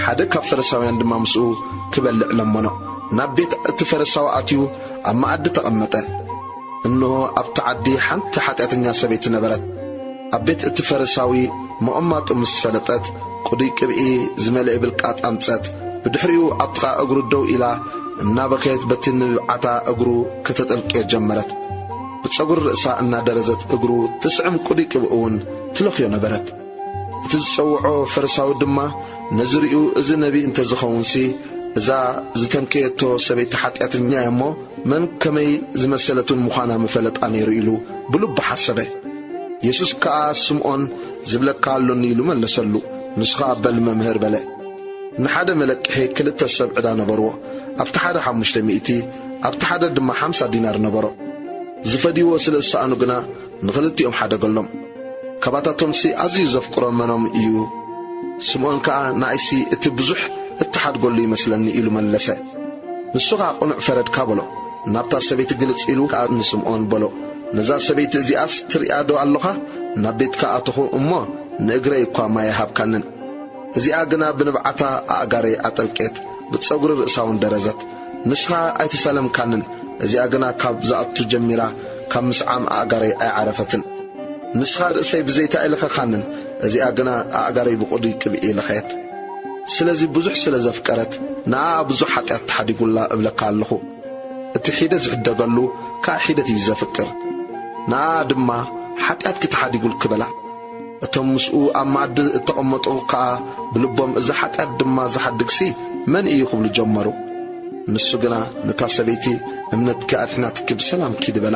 ሓደ ካብ ፈረሳውያን ድማ ምስኡ ክበልዕ ለመኖ። ናብ ቤት እቲ ፈረሳዊ ኣትዩ ኣብ መኣዲ ተቐመጠ። እንሆ ኣብቲ ዓዲ ሓንቲ ሓጢኣተኛ ሰበይቲ ነበረት። ኣብ ቤት እቲ ፈረሳዊ መቐማጡ ምስ ፈለጠት ቅዱይ ቅብኢ ዝመልኤ ብልቃጥ ኣምጸት። ብድሕሪኡ ኣብ ጥቓ እግሩ ደው ኢላ እናበከየት በቲ ንብዓታ እግሩ ከተጠልቅዮ ጀመረት። ብጸጉሪ ርእሳ እናደረዘት እግሩ ትስዕም ቅዱይ ቅብኢ እውን ትለኽዮ ነበረት። እቲ ዝጸውዖ ፈሪሳዊ ድማ ነዝርኡ እዚ ነቢይ እንተ ዝኸውንሲ እዛ ዝተንከየቶ ሰበይቲ ሓጢኣተኛ እያ እሞ መን ከመይ ዝመሰለትን ምዃና ምፈለጣ ነይሩ ኢሉ ብልቡ ሓሰበ የሱስ ከኣ ስምዖን ዝብለካ ኣሎኒ ኢሉ መለሰሉ ንስኻ በል መምህር በለ ንሓደ መለቅሒ ክልተ ሰብ ዕዳ ነበርዎ ኣብቲ ሓደ ሓሙሽተ ሚእቲ ኣብቲ ሓደ ድማ ሓምሳ ዲናር ነበሮ ዝፈድይዎ ስለ ዝሰኣኑ ግና ንኽልቲኦም ሓደ በሎም። ካባታቶምሲ ኣዝዩ ዘፍቅሮም መኖም እዩ? ስምኦን ከኣ ንኣይሲ እቲ ብዙሕ እትሓድገሉ ይመስለኒ ኢሉ መለሰ። ንሱ ኸኣ ቅኑዕ ፈረድካ በሎ። ናብታ ሰበይቲ ግልጽ ኢሉ ከኣ ንስምኦን በሎ፣ ነዛ ሰበይቲ እዚኣስ ትርእያዶ ኣሎኻ? ናብ ቤትካ ኣተኹ እሞ ንእግረይ እኳ ማይ ኣይሃብካንን። እዚኣ ግና ብንብዓታ ኣእጋረይ ኣጠልቄት፣ ብጸጕሪ ርእሳውን ደረዘት። ንስኻ ኣይተሰለምካንን እዚኣ ግና ካብ ዝኣቱ ጀሚራ ካብ ምስዓም ኣእጋረይ ኣይዓረፈትን ንስኻ ርእሰይ ብዘይቲ ኣይለኸኻንን እዚኣ ግና ኣእጋረይ ብቁዱይ ቅብኢ ለኸየት ስለዚ ብዙሕ ስለ ዘፍቀረት ንኣኣ ብዙሕ ሓጥያት ተሓዲጉላ እብለካ ኣለኹ እቲ ሒደት ዝሕደገሉ ክኣ ሒደት እዩ ዘፍቅር ንኣኣ ድማ ሓጥያትኪ ተሓዲጉልኪ በላ እቶም ምስኡ ኣብ መኣዲ እተቐመጡ ከኣ ብልቦም እዚ ሓጢኣት ድማ ዚሓድግሲ መን እዩ? ኪብሉ ጀመሩ። ንሱ ግና ነታ ሰበይቲ እምነትኪ ኣድሒናትኪ ብሰላም ኪዲ በላ።